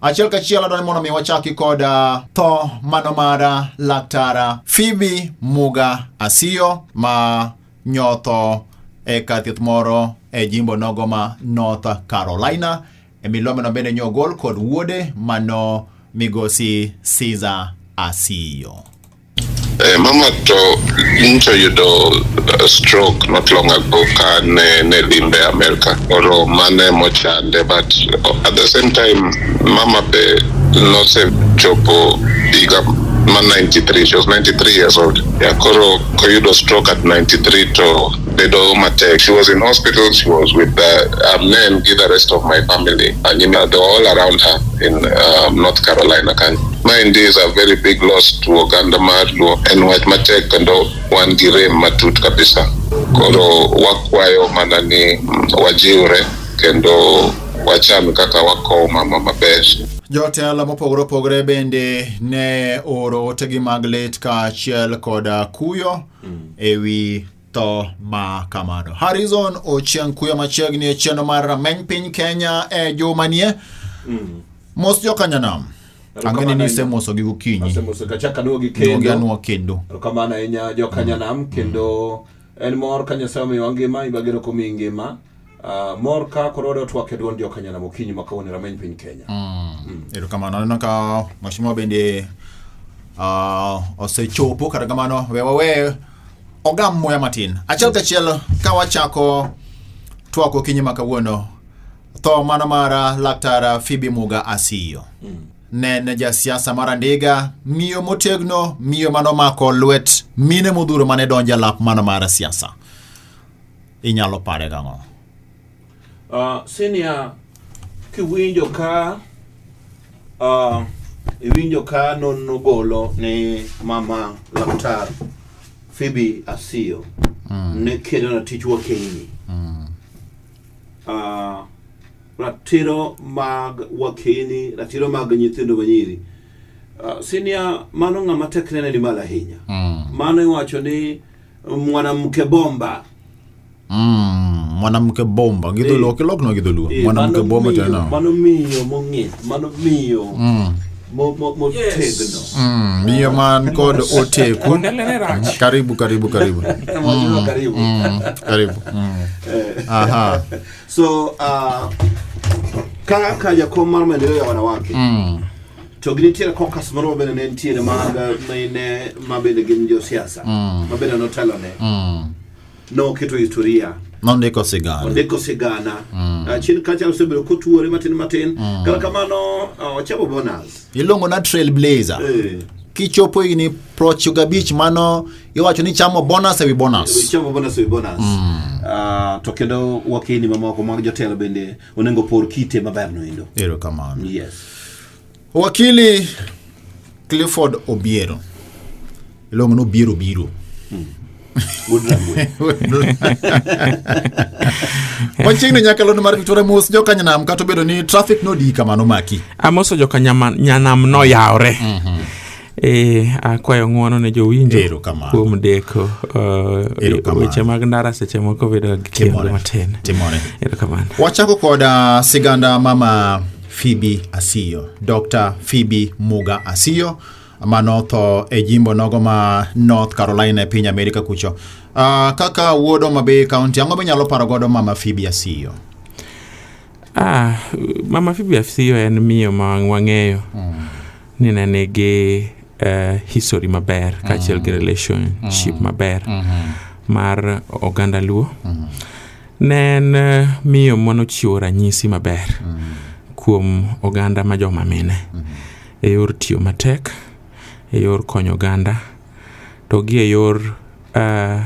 Achiel kachiel adwani mondo mi wachaki kod uh, tho mano mar uh, laktara Phoebe Muga Asiyo ma nyotho e kar thieth moro e jimbo nogo ma North Carolina e milomeno bende nyogol kod wuode mano migosi Caesar Asiyo. Eh, mama to ncho yudo uh, stroke not long ago ka ne ne limbe America oro mane mochande but uh, at the same time mama be nose chopo higa ma 93 she was 93 years old yeah, koro koyudo stroke at 93 to bedo matek she was in hospital she was with the uh, men gi the rest of my family and you know, they were all around her in uh, North Carolina kanyo Ma endi is a very big loss to oganda mar Luo. En wach matek kendo wan gi rem matut kabisa. Koro wakwayo mana ni mm, wajiwre kendo wachan kaka wakowo mama maber. Jotelo mopogore opogore bende ne oro otegi mag lit kaachiel koda kuyo ewi tho ma kamano. Harrison Ochieng kuyo machiegni e chenro mar rameny piny Kenya e juma nie. Mm. Mos jo kanyanam. Ang'eni ni isemoso gi gokinyi. Asemoso kachaka nuo gi kendo. Nuo nuo kendo. Kamano ahinya jo kanyanam kendo en mor ka Nyasaye omiwa ngima ibagero komi ngima. Uh, mor ka koro wade watwak e duond jokanyana mokinyi ma kawuono e rameny piny kenya mm. Mm. erokamano aneno ka mashimwa bende uh, osechopo kata kamano we wawe ogam muya matin achiel kachiel ka wachako twak okinyi ma kawuono tho mano mara laktar fibi muga asiyo mm. ne ne jasiasa mar andiga miyo motegno miyo manomako lwet mine modhuro mane donjo e lap mano mara siasa inyalo pare gang'o? Uh, senior, kiwinjo ka uh, iwinjo ka nonro golo ni mama laktar Phoebe Asiyo mm. ne kedo na tich wakeini mm. uh, ratiro mag wakeini ratiro mag nyithindo manyiri uh, senior mano ng'ama tekrene ni malo ahinya mm. mano iwacho ni mwanamke bomba Mm, mwanamke bomba gidholuo kilok no gidholuo Eh, mwanamke mano bomba miyo- tena mano miyo mong'ith mano miyo mo- mo- motegno Mm, miyo man kod oteku Ondele ne rach. karibu karibu karibu Mwajua karibu Mm, karibu Mm. aha so uh, ka ka jakom mar maendeleo ya wanawake Mm. To ginitiere kokas moro ma bende ne nitiere mag mine ma bende gin josiasa ma bende notelone. Noketo historia nondiko sigana ondiko sigana Ah, chien kacha osebedo kotuore matin matin kata kamano ah, ochamo bonus iluongo na trailblazer Eh, kichopo higni prochiko gabich mano iwacho ni chamo bonus ewi bonus ochamo bonus ewi bonus Ah, to kendo wakini mamoko mag jotelo bende onego por kite maberno endo. Erokamano. Yes. Wakili Clifford Obiero iluongo ni Obiero Biro. Hmm. machiegni nyakalondo mar victoria mos jokanyanam kata obedo ni traffic nodii kamano maki amoso jokanyanam noyawre mm -hmm. E, akwayo ng'uono ne jowinjo kuom deko uh, weche mag ndara seche moko bedo gi kendo matin. Erokamano. Wachako kod uh, siganda mama Phoebe Asiyo, Dr. Phoebe Muga Asiyo manotho e jimbo nogo ma North Carolina e piny Amerika kucho. Uh, kaka wuod Homa Bay County, ang'o minyalo paro godo mama Phoebe Asiyo? Ah, mama Phoebe Asiyo en miyo ma wang'eyo. Mm. ni ne nigi uh, history maber mm. kaachiel mm. gi relationship mm. maber mm -hmm. mar oganda luo mm -hmm. ne en uh, miyo manochiwo ranyisi maber mm -hmm. kuom oganda ma joma mine mm -hmm. e yor tiyo matek e yor konyo oganda to gi e yor uh,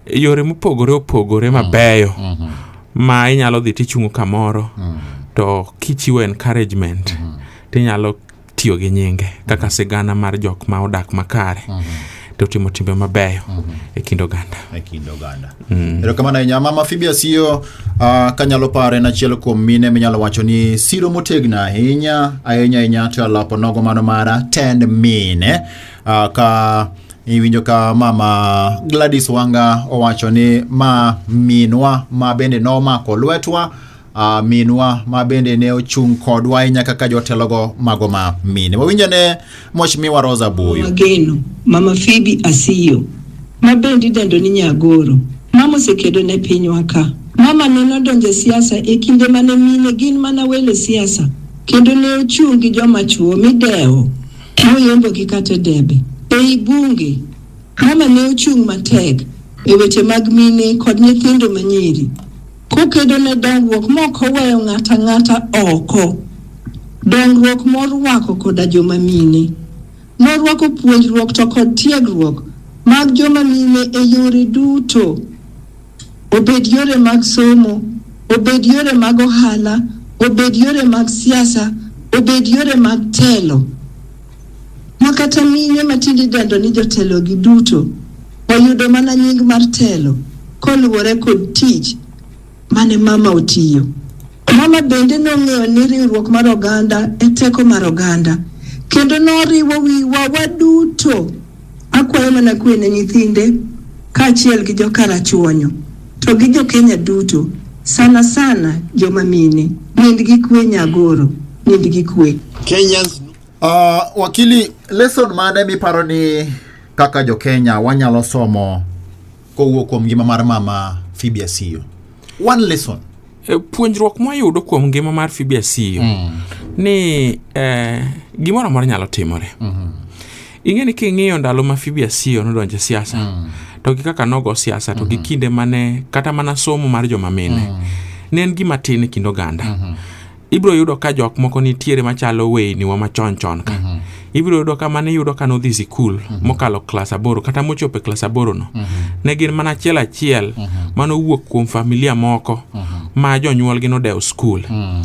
yore mopogore opogore mabeyo mm -hmm. ma inyalo dhi tichungo kamoro mm -hmm. to kichiwo encouragement mm -hmm. tinyalo tiyo gi nyinge kaka mm-hmm. sigana mar jok ma odak makare mm -hmm to timo timbe mabeyo mm -hmm. e kind oganda e kind oganda mm. erokamano ahinya mama fibia siyo uh, ah, kanyalo paro en achiel kuom mine minyalo wacho ni siro motegno ahinya ahinya ahinya to alapo nogo mano mara tend mine uh, ka Iwinjo ka mama Gladys Wanga owacho ni ma minwa ma bende nomako lwetwa uh, minwa ma bende ne ochung' kodwa ahinya kaka jotelogo mago ma mine. Wawinjo ne Mheshimiwa Rosa Buyu. Mageno, Mama Phoebe Asiyo, ma bende idendo ni Nyagoro, mama osekedo ne pinywa ka. Mama ne nodonjo e siasa e kinde mane mine gin mana welo siasa kendo ne ochung' gi joma chwo midewo Noyombogi kata e debe, ei bunge. Mama ne ochung' matek e weche mag mine kod nyithindo manyiri, kokedo ne dongruok maok oweyo ng'ato ang'ata oko, dongruok morwako koda joma mine. Norwako puonjruok to kod tiegruok mag joma mine e yore duto. obed yore mag somo, obed yore mag ohala, obed yore mag siasa, obed yore mag telo. Ma kata mine matinde idendo ni jotelogi duto oyudo mana nying mar telo koluwore kod tich mane mama otiyo. Mama bende nong'eyo ni riwruok mar oganda e teko mar oganda kendo noriwo wiwa waduto Akwayo mana kwe ne nyithinde kaachiel gi jokarachuonyo to gi jokenya duto sana sana joma mine. Nind gi kwe Nyagoro, nind gi kwe. Kenyans Uh, wakili lesson mane miparo ni kaka jokenya wanyalo somo kowuok kuom ngima mar mama Phoebe Asiyo one lesson E, puonjruok mwayudo kuom ngima mar Phoebe Asiyo ni eh, gimoro amora nyalo timore ing'e ni king'iyo ndalo ma Phoebe Asiyo nodonje siasa mm. to gi kaka nogo siasa to mm -hmm. gi mm-hmm. kinde mane kata mana somo mar joma mine mm. ne en gima tin e kind oganda mm -hmm. ibiro yudo ka jok moko nitiere machalo weyni wa machon chon ka mm -hmm. ibiro yudo ka mane iyudo ka nodhi sikul mm -hmm. mokalo klas aboro kata mochopo e klas aboro no mm -hmm. ne gin mana achiel achiel mm -hmm. manowuok kuom familia moko mm -hmm. ma jonyuolgi nodewo skul mm -hmm.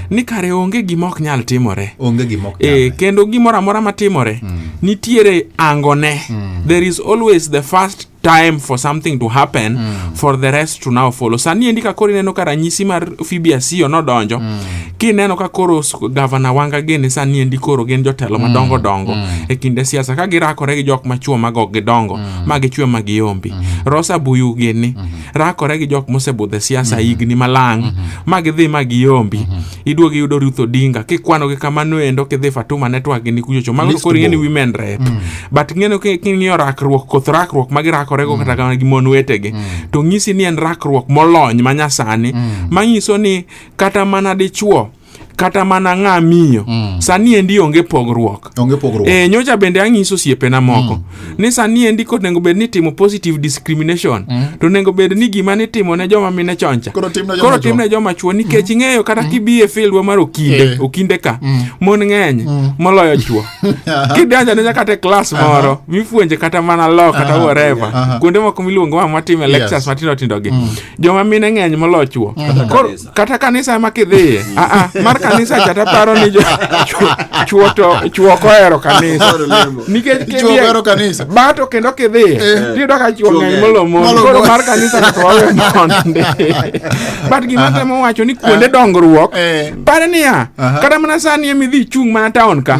ni kare onge gima ok nyal timore onge gima ok e, kendo gimoro amora matimore mm. nitiere angone mm. there is always the first time for something to happen mm. for the rest to now follow sani endi ka koro ineno ka ranyisi mar fibiasio nodonjo mm. kineno ka koro gavana wanga gini sani endi koro gin jotelo mm. madongo dongo mm. e kinde siasa ka girakore gi jok machuo mago gidongo mm. ma gichwe ma giombi mm. rosa buyu gini mm. rakore gi jok mosebudhe siasa higni malang ma gidhi ma giyombi iduog iyudo Ruth Odinga kikwano gi kamano endo kidhi Fatuma network gini kuchocho mago List koro ing'e ni bor. women rep but ing'eno ki- king'iyo rakruok koth rakruok ma girakorego kata kamano gi mon wetegi to ng'isi ni en rakruok molony ma nyasani manyiso ni kata mana dichuo kata mana ng'a miyo mm. sani endi onge pogruok onge pogruok e, nyocha bende ang'iso osiepena moko mm. ni sani endi kod nengo bed ni timo positive discrimination mm. to nengo bed ni gima ni timo ne joma mine choncha koro tim ne joma chwo nikech mm. ing'eyo kata mm. kibi e fieldwa mar okinde eh. okinde ka mm. mon ng'eny mm. moloyo chwo kidanja ne nyaka te klas uh-huh. moro uh -huh. mifuenje kata mana lo kata uh -huh. whatever uh -huh. kuonde moko miluongo ma matime lectures yes. matindo tindo gi mm. joma mine ng'eny moloyo chwo mm. kata kanisa ema kidhiye aa mar kanisa cha taparo ni jo- chwo- chwo to chwo kohero kanisa nikech Chwo kidhiye- ohero kanisa. bato kendo kidhiye Eh. tiyudo ka chwo Chwo ng'eny ng'eny. molomoni Molomoni. koro mar kanisa kata wawe monde but gima temo wacho ni kuonde dongruok Eh. pare niya Aha. kata mana sani ema idhi ichung' mana taon ka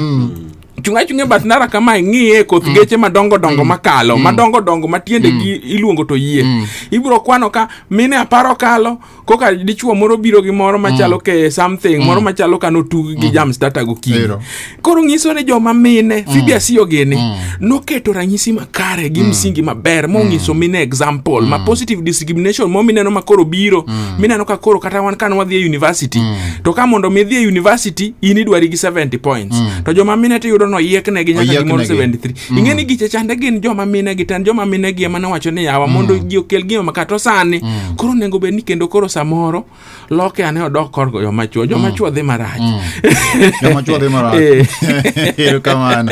chunga chunga bath ndara kama ing'iye koth geche madongo dongo makalo madongo dongo matiende gi iluongo to yie ibiro kwano ka mine aparo kalo koka dichuo moro biro gi moro machalo mm. ke something mm. moro machalo ka notug gi mm. jam starter gokinyi koro nyiso ni joma mine mm. fibi asiyo gini mm. noketo ranyisi makare gi mm. msingi maber monyiso mm. mine example mm. ma positive discrimination mo mineno ma koro biro mm. mineno ka koro kata wan kane wadhi e university mm. to ka mondo mi dhi e university in idwari gi 70 points mm. to joma mine to yudo no yiekne gi nyaka gimoro 73 mm. ing'e ni giche chande gin joma mine gi tan joma mine gi ema nowacho ni yawa mm. mondo ji okel gima makata sani mm. koro nengo bed ni kendo koro samoro loke ane odok kor goyo machwo joma mm. chwo dhi marach mm. joma chwo dhi marach eh. erokamano